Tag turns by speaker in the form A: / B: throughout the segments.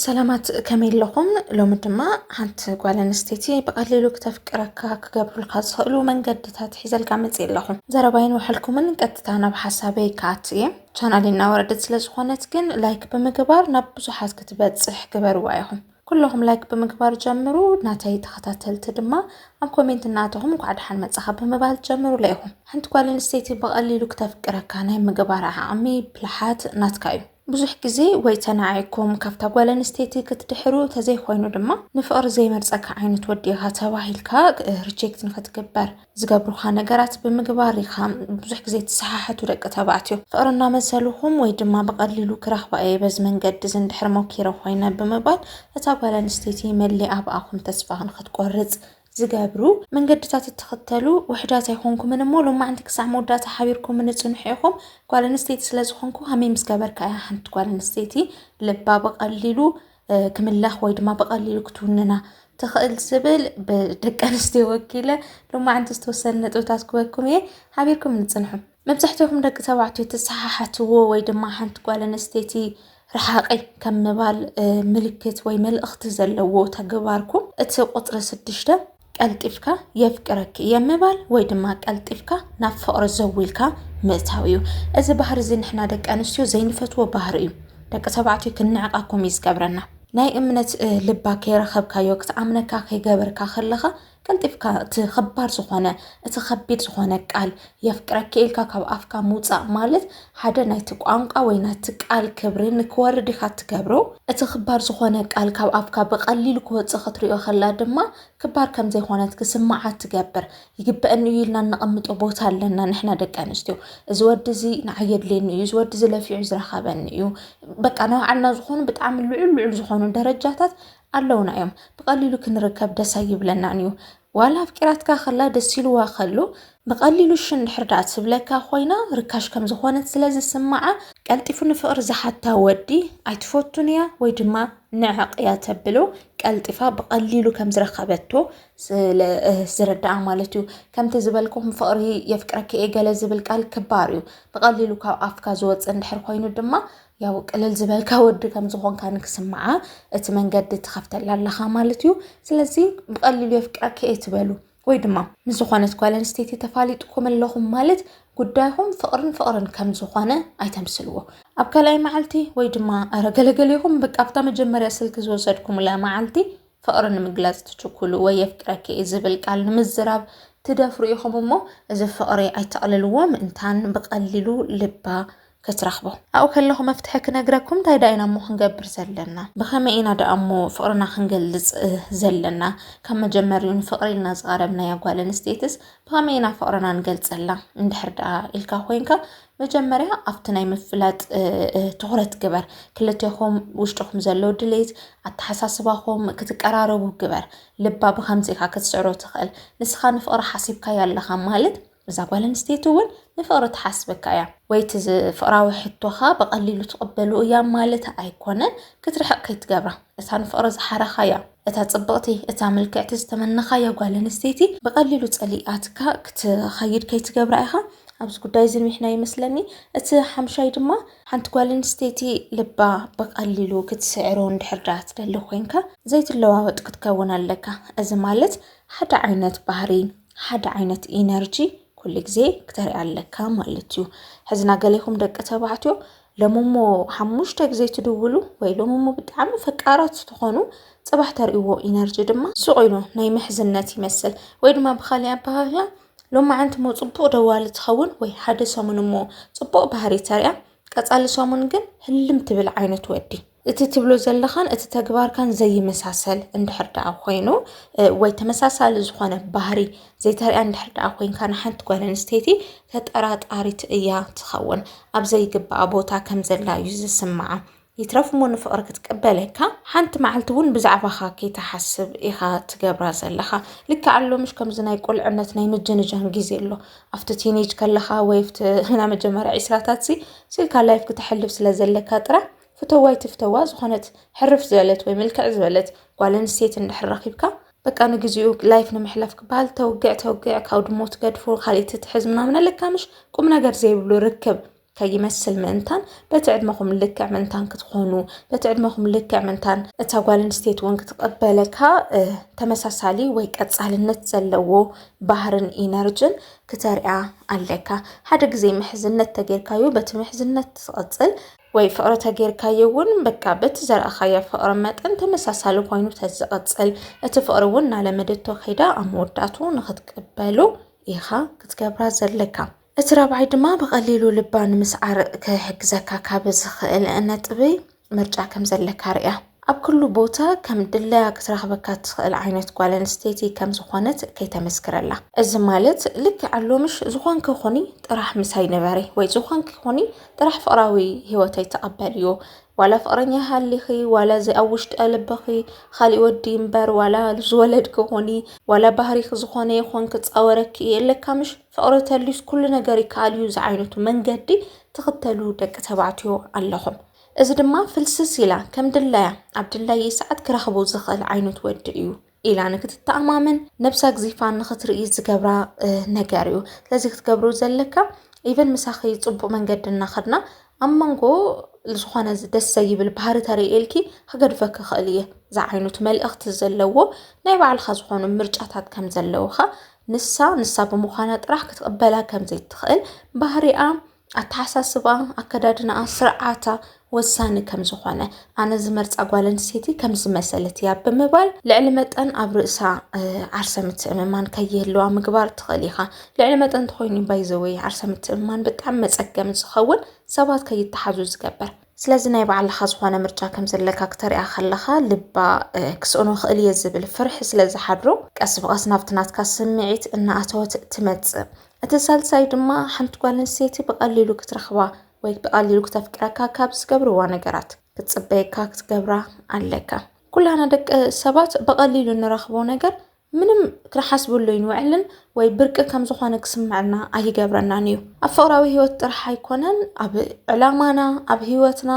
A: ሰላማት ከመይ ኣለኹም? ሎሚ ድማ ሓንቲ ጓል ኣንስተይቲ ብቐሊሉ ክተፍቅረካ ክገብሩልካ ዝኽእሉ መንገድታት ሒዘልካ መፅእ ኣለኹ። ዘረባይን ውሕልኩምን ቀጥታ ናብ ሓሳበይ ክኣቱ እየ። ቻናል እናወረደት ስለ ዝኾነት ግን ላይክ ብምግባር ናብ ብዙሓት ክትበፅሕ ግበርዋ ኢኹም። ኩለኹም ላይክ ብምግባር ጀምሩ፣ ናተይ ተኸታተልቲ ድማ ኣብ ኮሜንት እናተኹም እንኳዕ ደሓን መፃኻ ብምባል ጀምሩለ ኢኹም። ሓንቲ ጓል ኣንስተይቲ ብቐሊሉ ክተፍቅረካ ናይ ምግባር ዓቕሚ ብልሓት ናትካ እዩ። ብዙሕ ግዜ ወይ ተናዒኩም ካብታ ጓል ኣንስተይቲ ክትድሕሩ ተዘይኮይኑ ድማ ንፍቕሪ ዘይመርጸካ ዓይነት ወዲ ኢኻ ተባሂልካ ሪጀክት ንክትግበር ዝገብሩኻ ነገራት ብምግባር ኢኻ። ብዙሕ ግዜ ትሰሓሕቱ ደቂ ተባዕትዮ ፍቕሪ እናመሰልኹም ወይ ድማ ብቐሊሉ ክረኽባ እየ በዚ መንገዲ እዚ እንድሕር ሞኪረ ኮይነ ብምባል እታ ጓል ኣንስተይቲ መሊኣ ብኣኹም ተስፋ ንክትቆርጽ ዝገብሩ መንገድታት እትኽተሉ ውሕዳት ኣይኮንኩምን እሞ ሎማዕንቲ ክሳዕ መወዳእታ ሓቢርኩምኒ ጽኑሕ ኢኹም። ጓል ኣንስተይቲ ስለ ዝኾንኩ ሃመይ ምስ ገበርካ እያ ሓንቲ ጓል ኣንስተይቲ ልባ ብቐሊሉ ክምለኽ ወይ ድማ ብቐሊሉ ክትውንና ትኽእል ዝብል ብደቂ ኣንስትዮ ወኪለ ሎማዕንቲ ዝተወሰነ ነጥብታት ክበኩም እየ። ሓቢርኩም ንጽንሑ። መብዛሕትኹም ደቂ ተባዕትዮ ትሰሓሓትዎ ወይ ድማ ሓንቲ ጓል ኣንስተይቲ ረሓቐይ ከም ምባል ምልክት ወይ መልእኽቲ ዘለዎ ተግባርኩም እቲ ቁፅሪ ስድሽተ ቀልጢፍካ የፍቅረኪ እየ ምባል ወይ ድማ ቀልጢፍካ ናብ ፍቕሪ ዘው ኢልካ ምእታው እዩ እዚ ባህሪ እዚ ንሕና ደቂ ኣንስትዮ ዘይንፈትዎ ባህሪ እዩ ደቂ ተባዕትዮ ክንዕቃኩም እዩ ዝገብረና ናይ እምነት ልባ ከይረኸብካዮ ክትኣምነካ ከይገበርካ ከለኻ ቀልጢፍካ እቲ ኸባድ ዝኾነ እቲ ኸቢድ ዝኾነ ቃል የፍቅረኪ ኢልካ ካብ ኣፍካ ምውፃእ ማለት ሓደ ናይቲ ቋንቋ ወይ ናይቲ ቃል ክብሪ ንክወርድ ኢኻ እትገብሮ እቲ ክባር ዝኾነ ቃል ካብ ኣፍካ ብቐሊሉ ክወፅእ ክትሪኦ ከላ ድማ ክባር ከም ዘይኮነት ክስምዓ ትገብር ይግበአኒ እዩ ኢልና እነቐምጦ ቦታ ኣለና ንሕና ደቂ ኣንስትዮ እዚ ወዲ እዚ ንዓይ የድልየኒ እዩ እዚ ወዲ እዚ ለፊዑ ዝረኸበኒ እዩ በቃ ናይ ባዕልና ዝኾኑ ብጣዕሚ ልዑል ልዑል ዝኾኑ ደረጃታት ኣለውና እዮም ብቀሊሉ ክንርከብ ደስ ኣይብለናን እዩ ዋላ ኣፍቂራትካ ከላ ደስ ኢልዋ ከሉ ብቀሊሉ እሺ እንድሕር ደኣ ትብለካ ኮይና ርካሽ ከም ዝኾነት ስለ ዝስምዓ ቀልጢፉ ንፍቅሪ ዝሓታ ወዲ ኣይትፈቱን እያ ወይ ድማ ንዕቅ እያ ተብሎ ቀልጢፋ ብቀሊሉ ከም ዝረከበቶ ስለ ዝርዳኣ ማለት እዩ ከምቲ ዝበልኩም ፍቅሪ የፍቅረኪ እየ ገለ ዝብል ቃል ክባር እዩ ብቀሊሉ ካብ ኣፍካ ዝወፅእ እንድሕር ኮይኑ ድማ ያው ቅልል ዝበልካ ወዲ ከም ዝኾንካ ንክስምዓ እቲ መንገዲ ትኸፍተላ ኣለኻ ማለት እዩ ስለዚ ብቐሊሉ የፍቅረኪ እትበሉ ወይ ድማ ምስ ዝኾነት ጓል ኣንስተይቲ ተፋሊጥኩም ኣለኹም ማለት ጉዳይኹም ፍቕርን ፍቕርን ከም ዝኾነ ኣይተምስልዎ ኣብ ካልኣይ መዓልቲ ወይ ድማ ኣረ ገለገሌኹም በቃ ኣብታ መጀመርያ ስልኪ ዝወሰድኩምላ መዓልቲ ፍቕሪ ንምግላጽ ትችኩሉ ወይ የፍቅረኪ እዩ ዝብል ቃል ንምዝራብ ትደፍሩ ኢኹም እሞ እዚ ፍቕሪ ኣይተቕልልዎ ምእንታን ብቐሊሉ ልባ ክትረኽቦ። ኣብኡ ከለኹ መፍትሒ ክነግረኩም እንታይ ደኣ ኢና እሞ ክንገብር ዘለና? ብኸመይ ኢና ደኣ እሞ ፍቕርና ክንገልጽ ዘለና? ካብ መጀመሪኡ ንፍቕሪ ኢልና ዝቐረብናያ ጓል ኣንስተይትስ ብኸመይ ኢና ፍቕርና ንገልጸላ? እንድሕር ደኣ ኢልካ ኮይንካ መጀመርያ ኣብቲ ናይ ምፍላጥ ትኹረት ግበር። ክልቴኹም ውሽጥኹም ዘሎ ድሌት ኣተሓሳስባኹም ክትቀራረቡ ግበር። ልባ ብከምዚ ኢኻ ክትስዕሮ ትኽእል። ንስኻ ንፍቕሪ ሓሲብካያ ኣለኻ ማለት እዛ ጓል ኣንስተይቲ እውን ንፍቕሪ ትሓስበካ እያ ወይ እቲ ፍቕራዊ ሕቶኻ ብቐሊሉ ትቕበሉ እያ ማለት ኣይኮነን። ክትርሕቕ ከይትገብራ እታ ንፍቕሪ ዝሓረኻያ፣ እታ ጽብቕቲ፣ እታ ምልክዕቲ ዝተመነኻያ ጓል ኣንስተይቲ ብቐሊሉ ጸሊኣትካ ክትኸይድ ከይትገብራ ኢኻ። ኣብዚ ጉዳይ እዚ ንዊሕናዮ ይመስለኒ። እቲ ሓምሻይ ድማ ሓንቲ ጓል ኣንስተይቲ ልባ ብቐሊሉ ክትስዕሮ እንድሕር ደኣ ትደሊ ኮይንካ ዘይትለዋወጥ ክትከውን ኣለካ። እዚ ማለት ሓደ ዓይነት ባህሪ፣ ሓደ ዓይነት ኢነርጂ ኩሉ ግዜ ክተርኢ ኣለካ ማለት እዩ። ሕዝና ገሌኹም ደቂ ተባዕትዮ ሎሚ እሞ ሓሙሽተ ግዜ ትድውሉ ወይ ሎሚ እሞ ብጣዕሚ ፈቃራት ትኾኑ ጽባሕ ተርእይዎ ኢነርጂ ድማ ሱቕ ኢሉ ናይ ምሕዝነት ይመስል ወይ ድማ ብኻሊእ ኣበሃህላ ሎማዓንቲ እሞ ጽቡቕ ደዋሊ ትኸውን ወይ ሓደ ሰሙን እሞ ጽቡቕ ባህሪ ተርእያ ቀጻሊ ሰሙን ግን ህልም ትብል ዓይነት ወዲ እቲ ትብሎ ዘለኻን እቲ ተግባርካን ዘይመሳሰል እንድሕር ደኣ ኮይኑ ወይ ተመሳሳሊ ዝኾነ ባህሪ ዘይተሪያ እንድሕር ደኣ ኮይንካ ንሓንቲ ጓል ኣንስተይቲ ተጠራጣሪት እያ ትኸውን። ኣብ ዘይግባኣ ቦታ ከም ዘላ እዩ ዝስምዓ። ይትረፍ እሞ ንፍቕሪ ክትቅበለካ ሓንቲ መዓልቲ እውን ብዛዕባኻ ከይትሓስብ ኢኻ ትገብራ ዘለኻ ልክዕ ኣሎ ምሽ ከምዚ ናይ ቁልዕነት ናይ ምጅንጃን ግዜ ኣሎ ኣብቲ ቲኔጅ ከለኻ ወይ ኣብቲ ናይ መጀመርያ ዒስራታት ሲ ስልካ ላይፍ ክተሕልፍ ስለ ዘለካ ጥራሕ ፍተዋይ ትፍተዋ ዝኾነት ሕርፍ ዝበለት ወይ ምልክዕ ዝበለት ጓል ኣንስተይቲ እንድሕር ረኺብካ በቃ ንግዚኡ ላይፍ ንምሕላፍ ክበሃል ተውግዕ ተውግዕ ካብ ድሞ ትገድፎ ካልእ ትትሕዝ ምናምን ኣለካ ምሽ ቁም ነገር ዘይብሉ ርክብ ከይመስል ምእንታን በቲ ዕድመኹም ልክዕ ምእንታን ክትኾኑ በቲ ዕድመኹም ልክዕ ምእንታን እታ ጓል ኣንስተይቲ እውን ክትቐበለካ ተመሳሳሊ ወይ ቀጻልነት ዘለዎ ባህርን ኢነርጅን ክተርያ ኣለካ ሓደ ግዜ ምሕዝነት ተጌርካዩ በቲ ምሕዝነት ትቐጽል ወይ ፍቕሪ ተጌርካዮ እውን በቃ በቲ ዘርኣኻያ ፍቕሪ መጠን ተመሳሳሊ ኮይኑ ተዝቕፅል እቲ ፍቕሪ እውን እናለመደቶ ከይዳ ኣብ መወዳእቱ ንክትቅበሉ ኢኻ ክትገብራ ዘለካ እቲ ራብዓይ ድማ ብቐሊሉ ልባ ንምስዓር ክሕግዘካ ካብ ዝኽእል ነጥቢ ምርጫ ከም ዘለካ ርያ። ኣብ ኩሉ ቦታ ከም ድላያ ክትረኽበካ እትኽእል ዓይነት ጓል ኣንስተይቲ ከም ዝኾነት ከይተመስክረላ። እዚ ማለት ልክዕ ኣሎምሽ ዝኾንኪ ኹኒ ጥራሕ ምሳይ ንበሪ ወይ ዝኾንኪ ኹኒ ጥራሕ ፍቕራዊ ህይወተይ ተቐበልዮ ዋላ ፍቕረኛ ይሃሊኺ ዋላ እዚ ኣብ ውሽጢ ልብኺ ኻሊእ ወዲ እምበር ዋላ ዝወለድኪ ኹኒ ዋላ ባህሪኺ ዝኾነ ይኹን ክፃወረኪ እየ እለካ ምሽ ፍቕሪ ተልዩስ ኩሉ ነገር ይከኣል እዩ ዝዓይነቱ መንገዲ ትኽተሉ ደቂ ተባዕትዮ ኣለኹም እዚ ድማ ፍልስስ ኢላ ከም ድላያ ኣብ ድላየይ ሰዓት ክረኽቦ ዝኽእል ዓይነት ወዲ እዩ ኢላ ንክትተኣማመን ነብሳግዚፋ ንክትርኢ ዝገብራ ነገር እዩ ስለዚ ክትገብሩ ዘለካ ኢቨን ምሳኺ ፅቡቅ መንገዲ እናኸድና ኣብ መንጎ ዝኾነ ደስ ዘይብል ባህሪ ተርእየልኪ ክገድፈኪ ክኽእል እየ ዝዓይነቱ መልእኽቲ ዘለዎ ናይ ባዕልኻ ዝኾኑ ምርጫታት ከም ዘለውኻ ንሳ ንሳ ብምዃና ጥራሕ ክትቕበላ ከም ዘይትኽእል ባህሪኣ ኣተሓሳስባኣ፣ ኣከዳድናኣ፣ ስርዓታ ወሳኒ ከም ዝኾነ ኣነ ዝመርፃ ጓል ኣንስተይቲ ከም ዝመሰለት እያ ብምባል ልዕሊ መጠን ኣብ ርእሳ ዓርሰ ምትእምማን ከይህልዋ ምግባር ትኽእል ኢኻ። ልዕሊ መጠን ተኾይኑ ባይዘወይ ዓርሰ ምትእምማን ብጣዕሚ መፀገሚ ዝኸውን ሰባት ከይተሓዙ ዝገብር ስለዚ ናይ ባዕልኻ ዝኾነ ምርጫ ከም ዘለካ ክተሪኣ ከለኻ ልባ ክስእኖ ክእል እየ ዝብል ፍርሒ ስለ ዝሓድሮ ቀስ ብቐስ ናብቲ ናትካ ስምዒት እናኣተወት ትመፅእ እቲ ሳልሳይ ድማ ሓንቲ ጓል ኣንስተይቲ ብቐሊሉ ክትረኽባ ወይ ብቐሊሉ ክተፍቅረካ ካብ ዝገብርዋ ነገራት ክትፅበየካ ክትገብራ ኣለካ። ኩላና ደቂ ሰባት ብቐሊሉ እንረኽቦ ነገር ምንም ክንሓስበሉ ይንውዕልን ወይ ብርቂ ከም ዝኾነ ክስምዐና ኣይገብረናን እዩ ኣብ ፍቕራዊ ህይወት ጥራሕ ኣይኮነን ኣብ ዕላማና ኣብ ህይወትና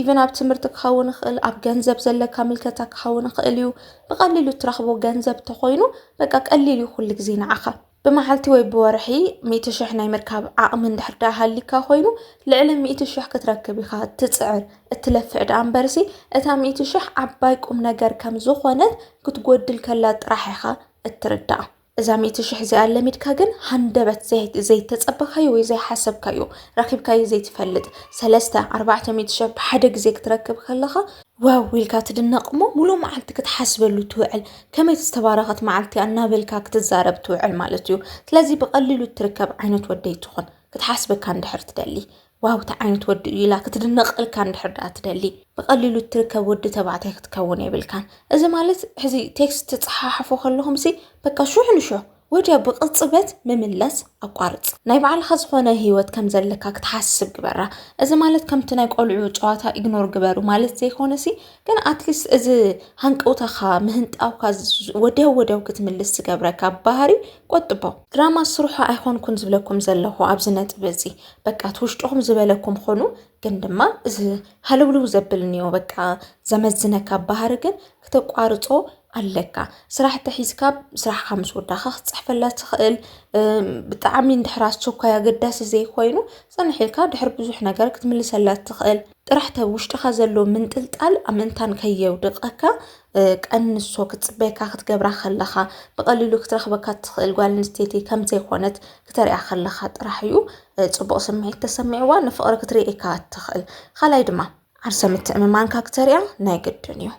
A: ኢቨን ኣብ ትምህርቲ ክኸውን ይኽእል ኣብ ገንዘብ ዘለካ ምልከታ ክኸውን ይኽእል እዩ ብቐሊሉ እትረኽቦ ገንዘብ ተኾይኑ በቃ ቀሊል እዩ ኩሉ ግዜ ንዓኻ ብመዓልቲ ወይ ብወርሒ ሚእቲ ሽሕ ናይ ምርካብ ዓቕሚ እንድሕር ደኣ ሃሊካ ኮይኑ ልዕሊ ሚእቲ ሽሕ ክትረክብ ኢኻ እትፅዕር እትለፍዕ ደኣ እምበርሲ እታ ሚእቲ ሽሕ ዓባይ ቁም ነገር ከም ዝኾነት ክትጎድል ከላ ጥራሕ ኢኻ እትርዳእ እዛ ሚእቲ ሽሕ እዚኣ ለሚድካ ግን ሃንደበት ዘይተፀበኻዮ ወይ ዘይሓሰብካዮ ረኺብካዮ ዘይትፈልጥ ሰለስተ ኣርባዕተ ሚእቲ ሽሕ ብሓደ ግዜ ክትረክብ ከለኻ ዋው ኢልካ ትድነቕ እሞ ሙሉእ መዓልቲ ክትሓስበሉ ትውዕል ከመይ ዝተባረኸት መዓልቲ እናበልካ ክትዛረብ ትውዕል ማለት እዩ ስለዚ ብቐሊሉ እትርከብ ዓይነት ወደይ ትኹን ክትሓስበካ እንድሕር ትደሊ ዋው እቲ ዓይነት ወዲ እዩ ኢላ ክትድነቐልካ እንድሕር ድኣ ትደሊ ብቐሊሉ እትርከብ ወዲ ተባዕታይ ክትከውን የብልካን እዚ ማለት ሕዚ ቴክስት ትፀሓሓፉ ከለኹም ሲ በቃ ሹሕ ንሹሕ ወዲያው ብቕጽበት ምምለስ ኣቋርጽ። ናይ ባዕልኻ ዝኾነ ህይወት ከም ዘለካ ክትሓስብ ግበራ። እዚ ማለት ከምቲ ናይ ቆልዑ ጨዋታ ኢግኖር ግበሩ ማለት ዘይኮነሲ ግን ኣትሊስት እዚ ሃንቀውታኻ ምህንጣውካ ወዲያው ወዲያው ክትምልስ ዝገብረካ ባህሪ ቆጥቦ። ድራማ ስርሑ ኣይኮንኩን ዝብለኩም ዘለኹ ኣብዚ ነጥቢ እዚ በቃ እቲ ውሽጥኹም ዝበለኩም ኾኑ ግን ድማ እዚ ሃለውልው ዘብል እኒኦ በቃ ዘመዝነካ ባህሪ ግን ክተቋርጾ ኣለካ ስራሕ ተሒዝካ ስራሕካ ምስ ወዳእካ ክትፅሕፈላ ትኽእል ብጣዕሚ እንድሕር ኣስቸኳይ ኣገዳሲ ዘይኮይኑ ፅንሕ ኢልካ ድሕሪ ብዙሕ ነገር ክትምልሰላ ትኽእል ጥራሕ ተ ውሽጥኻ ዘሎ ምንጥልጣል ኣብ ምንታን ከየውድቐካ ቀንሶ ክትፅበየካ ክትገብራ ከለኻ ብቐሊሉ ክትረኽበካ ትኽእል ጓል ኣንስተይቲ ከም ዘይኮነት ክተሪያ ከለኻ ጥራሕ እዩ ፅቡቕ ስምዒት ተሰሚዕዋ ንፍቕሪ ክትርእየካ ትኽእል ካልኣይ ድማ ዓርሰ ምትእምማንካ ክተሪያ ናይ ግድን እዩ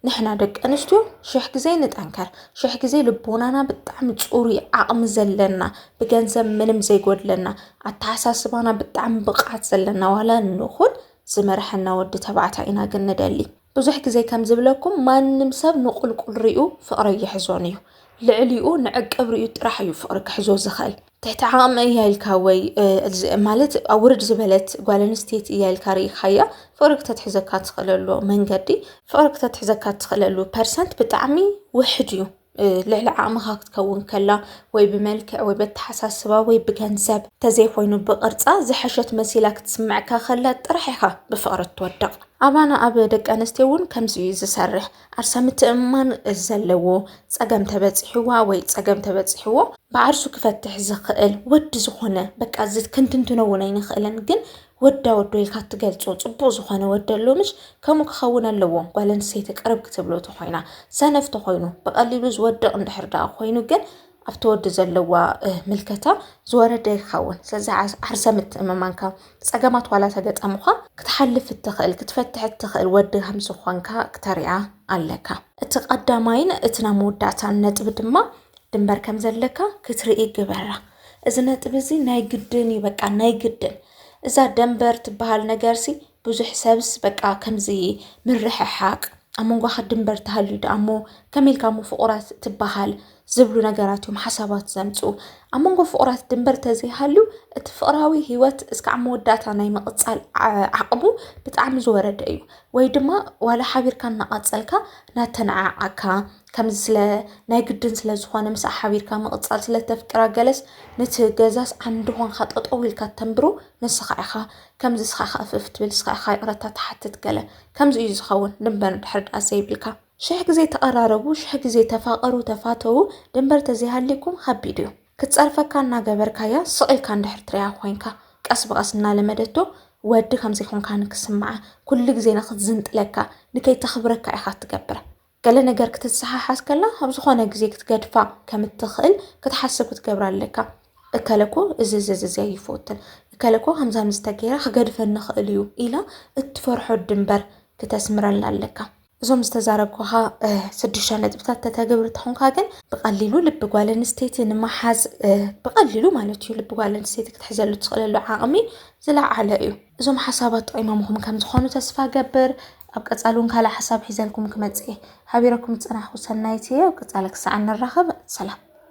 A: ንሕና ደቂ ኣንስትዮ ሽሕ ግዜ ንጠንከር ሽሕ ግዜ ልቦናና ብጣዕሚ ፅሩይ ዓቕሚ ዘለና ብገንዘብ ምንም ዘይጎድለና ኣተሓሳስባና ብጣዕሚ ብቕዓት ዘለና ዋላ ንኹን ዝመርሐና ወዲ ተባዕታይ ኢና ግን ንደሊ ብዙሕ ግዜ ከም ዝብለኩም ማንም ሰብ ንቁልቁል ሪኡ ፍቕሪ ኣይሕዞን እዩ ልዕሊኡ ንዕቅብ ሪኡ ጥራሕ እዩ ፍቕሪ ክሕዞ ዝኽእል ትሕቲ ዓቕሚ እያ ኢልካ ወይ ማለት ኣብ ውርድ ዝበለት ጓል ኣንስተይቲ እያ ኢልካ ርኢኻያ ፍቕሪ ክተትሕዘካ ትኽእለሉ መንገዲ ፍቕሪ ክተትሕዘካ ትኽእለሉ ፐርሰንት ብጣዕሚ ውሕድ እዩ። ልዕሊ ዓቕምኻ ክትከውን ከላ ወይ ብመልክዕ ወይ በተሓሳስባ ወይ ብገንዘብ ተዘይኮይኑ ብቕርፃ ዝሐሸት መሲላ ክትስምዐካ ከላ ጥራሕ ኢኻ ብፍቕሪ እትወድቕ። ኣባና ኣብ ደቂ ኣንስትዮ እውን ከምዚ እዩ ዝሰርሕ። ዓርሳ ምትእምማን ዘለዎ ፀገም ተበፂሕዋ ወይ ፀገም ተበፂሕዎ ብዓርሱ ክፈትሕ ዝኽእል ወዲ ዝኾነ በቃ እዚ ክንትንትኖ እውን ኣይንኽእልን ግን ወዳ ወዶ ኢልካ እትገልፆ ፅቡቅ ዝኾነ ወዲ ኣሎ ምሽ ከምኡ ክኸውን ኣለዎ ጓል ኣንስተይቲ ቅርብ ክትብሎ ተኾይና ሰነፍ ተኾይኑ ብቀሊሉ ዝወድቅ እንድሕር ዳኣ ኮይኑ ግን ኣብቲ ወዲ ዘለዋ ምልከታ ዝወረደ ይኸውን ስለዚ ዓርሰ ምትእምማንካ ፀገማት ዋላ ተገጠሙኻ ክትሓልፍ እትኽእል ክትፈትሕ እትኽእል ወዲ ከም ዝኾንካ ክተሪኣ ኣለካ እቲ ቀዳማይን እቲ ናይ መወዳእታን ነጥቢ ድማ ድንበር ከም ዘለካ ክትርኢ ግበራ እዚ ነጥቢ እዚ ናይ ግድን እዩ በቃ ናይ ግድን እዛ ደንበር ትበሃል ነገርሲ ብዙሕ ሰብስ በቃ ከምዚ ምርሕሓቅ ኣብ መንጓኻ ድንበር ተሃልዩ ደኣ እሞ ከመይ ኢልካ እሞ ፍቑራት ትበሃል ዝብሉ ነገራት እዮም ሓሳባት ዘምፅኡ። ኣብ መንጎ ፍቑራት ድንበር ተዘይሃልዩ እቲ ፍቕራዊ ህይወት እስካዕ መወዳእታ ናይ ምቕፃል ዓቕሙ ብጣዕሚ ዝወረደ እዩ። ወይ ድማ ዋላ ሓቢርካ እናቐፀልካ ናተነዓዓካ ከምዚ ስለ ናይ ግድን ስለ ዝኾነ ምስኣ ሓቢርካ ምቕፃል ስለተፍቅራ ገለስ ነቲ ገዛስ ዓንዲ ኾንካ ጠጠው ኢልካ ተንብሮ ንስኻ ኢኻ። ከምዚ እስኻ ከ እፍ እፍ ትብል እስኻ ኢኻ ይቕረታ ትሓትት ገለ ከምዚ እዩ ዝኸውን ድንበር ድሕር ድኣ ዘይብልካ ሽሕ ግዜ ተቐራረቡ ሽሕ ግዜ ተፋቐሩ ተፋተዉ ድንበር ተዘይሃልይኩም ኸቢድ እዩ ክትጸርፈካ እናገበርካያ ስቕ ኢልካ እንድሕር ትሪኣ ኮይንካ ቀስ ብቐስ እናለመደቶ ወዲ ከም ዘይኮንካ ንክስምዓ ኩሉ ግዜ ንክትዝንጥለካ ንከይተኽብረካ ኢኻ ትገብር ገለ ነገር ክትሰሓሓዝ ከላ ኣብ ዝኾነ ግዜ ክትገድፋ ከም እትኽእል ክትሓስብ ክትገብራ ኣለካ። እከለ እኮ እዚ እዚ እዚ ኣይፈትን፣ እከለ እኮ ከምዚ ከምዚ ተገይረ ክገድፈኒ ይኽእል እዩ ኢላ እትፈርሖ ድንበር ክተስምረላ ኣለካ። እዞም ዝተዛረብኩኻ ስድሽተ ነጥብታት ተተግብር ተኾንካ ግን ብቐሊሉ ልቢ ጓል ኣንስተይቲ ንምሓዝ ብቐሊሉ ማለት እዩ ልቢ ጓል ኣንስተይቲ ክትሕዘሉ ትኽእለሉ ዓቕሚ ዝለዓለ እዩ። እዞም ሓሳባት ጠቂሞምኹም ከም ዝኾኑ ተስፋ እገብር። ኣብ ቀጻሊ እውን ካልእ ሓሳብ ሒዘልኩም ክመጽእ እየ። ሓቢረኩም ዝጸናሕኩ ሰናይት እየ። ኣብ ቀጻሊ ክሳዕ እንራኸብ ሰላም።